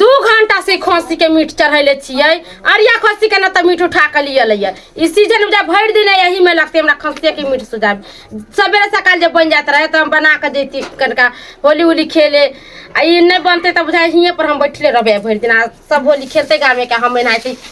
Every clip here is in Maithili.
दू घंटा से खस्सी के मीट चढ़ैले छियै अरिया खस्सी के ना तऽ मीट उठा के लिए लैया ई सीजन जब भरि दिन यही में लगते हमरा खस्सी के मीट सुझाब सवेरे सकाल जब बन जात रहे तऽ हम बना के देती कनिका होली होली खेले आ ई नहीं बनते तऽ बुझाइ हिये पर हम बैठले रहबे भरि दिन आ सब होली खेलते गामे के हम एनाहिते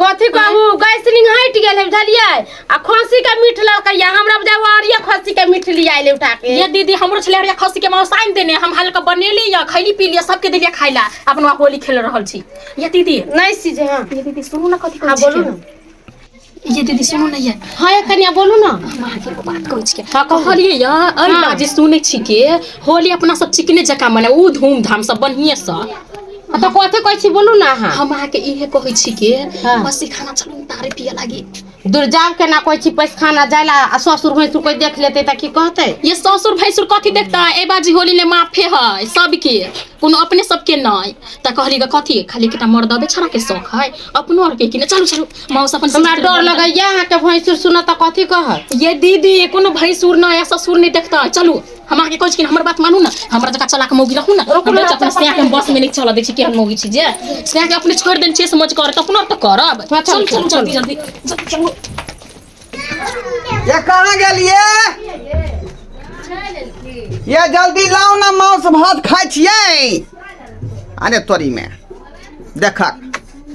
कथी कहू गैस सिलिंग हट गेल है बुझलिए आ खसी के मीठ लड़कैया हमरा बुझा वारिया खसी के मीठ लिया आइले उठा के ये दीदी हमरो छले हरिया खसी के मौसाइन देने हम हल्का बनेली या खैली पी लिया सबके देलिया खाइला अपन वहाँ होली खेल रहल छी ये दीदी नहीं सीजे हां ये दीदी सुनू ना कथी हां बोलू ना ये दीदी सुनू ना ये हां ये कनिया बोलू ना माँ के एगो बात कहै छिके हाँ, कहू। कहलिए या अरे हाँ। बाजी सुनै छी के होली अपना सब चिकने जकाँ मने ऊ धूमधाम सब बढ़िए से तऽ कथी कहै छी बोलू ने अहाँ हम अहाँके इहे कहै छी कि हँ। बसी खाना चलू ने तारे पिअ लागी दुरजाउ केना कहै छी पैसखाना जाय लए आ ससुर भैसुर कोइ देख लेतै तऽ की कहतै ये ससुर भैसुर कथी देखतै एहि बाजी होली ले माफे है सबके कोनो अपने सबके नहि तऽ कहली ग कथी खाली एकटा मर्दबे छड़ा के शौक है अपनो आर के कि ने चलू चलू मौस अपन हमरा सिस्टर डर बनल है। लगैया अहाँके भैंसुर सुनत तऽ कथी कहत ये दीदी कोनो भैंसुर नहि या ससुर नहि देखतै चलू हम अहाँके कहै छी हमर बात मानू ने हमरा जकाँ चला कऽ मौगी रखू ने हम नहि अपने सएह हम बस मे नहि चलऽ दै छी केहन मौगी छी जे सएह के अपने छोड़ि देने छियै समझ कर तऽ अपना तऽ करब हँ, चलू, चलू चलू जल्दी जल्दी जल्दी चलू ये कहाँ गेलिए ये जल्दी लाओ ना मांस भात खाइ छियै अरे तोरी में देखक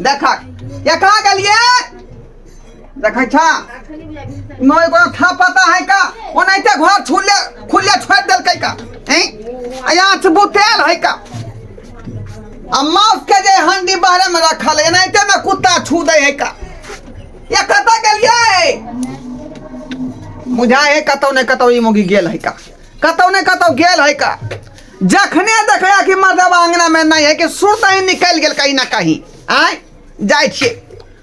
देखक ये कहाँ गेलिए देखै छ नहि कोनो था पता है का ओनाहिते घर छुले खुले छोड़ देलकै का हैं यहाँ से बुतेल है का आ माउस के जे हंडी बाहरे में रखल है एनाहिते में कुत्ता छू दे है का ये कतऽ गेलियै बुझाय है कतौ ने कतौ ई मुगी गेल है का कतौ ने कतौ गेल है का जखने देखला कि मर्दबा अंगना में नहीं है कि सुरत ही निकल गेल कहीं ना कहीं आय जाय छियै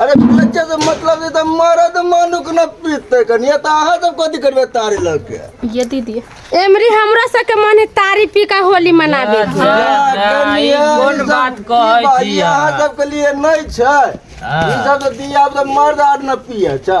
अरे बच्चा से मतलब छै तऽ मरद मनुख न पीते कनिया तऽ अहाँ सब कथी करबे तारी लग के ये दीदी एमरी हमरा सबके मने तारी पी के होली मनाबे के। हाँ, कनिया, ई कोन ई सब बात की कहै बात, छी ई अहाँ अहाँ? सबके लिए नहि छै ई सब तऽ दिया अब तऽ मर्द आर न पिए छै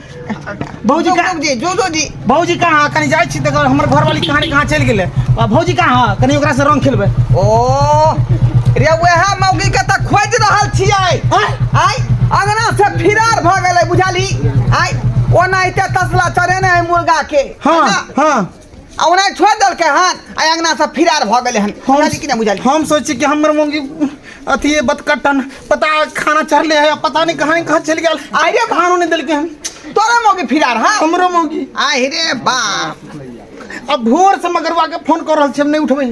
भौजी कहाँ जे जो जो जी भौजी कहाँ कनी जाइ छी तकर हमर घरवाली कहानी कहाँ चलि गेलै आ भौजी कहाँ कनी ओकरा से रंग खेलबै ओ रे वएह मौगी के त खोज रहल छियै आइ अंगना से फिरार भ गेलै बुझाली आइ ओनाहिते तसला चढ़ेने है मुर्गा के हाँ हाँ आ ओना छोड़ देलकै हन आ अंगना से फिरार भऽ गेलै हन बुझाली कि नहि बुझाली हम सोची कि हमर मुंगी अथी बतकटन पता खाना चढ़ले है पता नहीं कहाँ कहाँ चल गया आइरे भानो नहीं दिलके हम तोरा मौगी फिरार हाँ हमरो मौगी आइरे बाप अब भोर से मगरवा के फोन कर रहा नहीं उठबे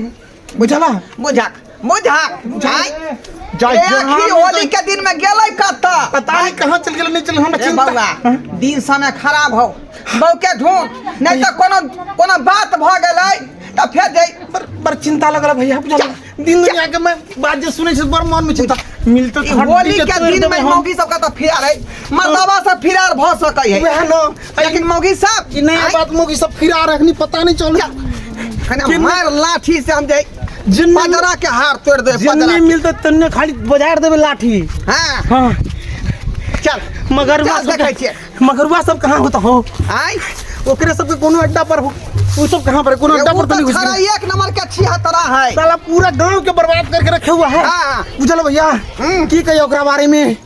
बुझला बुझक बुझक बुझाइ जाय ए, जहाँ अखी ले होली के दिन में गेलै कत्ता पता नहीं कहाँ चल गेल नहीं चल हमरा ए चिंता बौआ हाँ? दिन समय खराब हो बौ के ढूंढ नहीं तो कोनो कोनो बात भ गेलै त फेर दे पर पर चिंता लगल भैया बुझला दिन दुनिया के मैं बात जे सुनै छी बड़ मन में चिंता मिलते ई होली के दिन में मौगी सब के त फिरार है मर्दबा से फिरार भ सकै है वह न लेकिन मौगी साहब कि नया बात मौगी सब फिरा रखनी पता नहीं चल कने मार लाठी से हम जाए जिन पदरा के हार तोड़ दे पदरा नहीं मिलते तन्ने खाली बजार देबे लाठी हां हां चल मगरवा सब देखै छियै मगरवा सब कहां होता हो आय ओकरे सब के कोनो अड्डा पर हो उ सब कहां पर कोनो अड्डा पर तनी घुस गई एक नंबर के छिया तरा है साला पूरा गांव के बर्बाद करके रखे हुआ है हां बुझल भैया हम्म। की कहियो ओकरा बारे में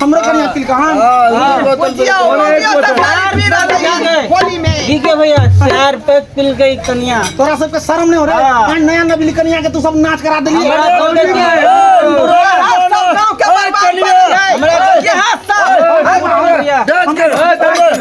हमरा घर यहाँ तिल कहाँ होली में ठीक है भैया चार पैक पिल गई कनिया तोरा सबके शर्म नहीं हो रहा हाँ। है नया नबी कनिया के तू सब नाच करा देली हमरा गाँव के- हमरा गाँव के- भैया,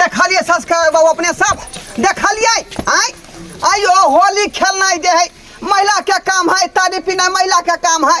देखलिए सब्सक्राइब बाबू अपने सब देखलिए आय आयो होली खेलनाइ दे है महिला के काम है तारी पीनाइ महिला के काम है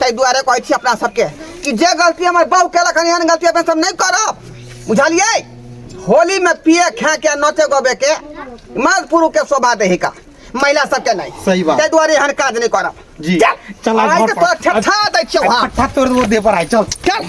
ताहि दुआरे कहै छी अपना सबके कि जे गलती हमर बाबू केलक हन एहन गलती अपना सब नहीं करब बुझलिए होली में पिए खा के नचे गबे के मर्द पुरुष के शोभा दही का महिला सबके नहीं सही बात। ताहि दुआरे एहन काज नहीं करब जी। चल चल, आज आज घर तो पर। तोरा छठा दै छियौ हम पट्टा तोड़ वो दे पर आए चल चल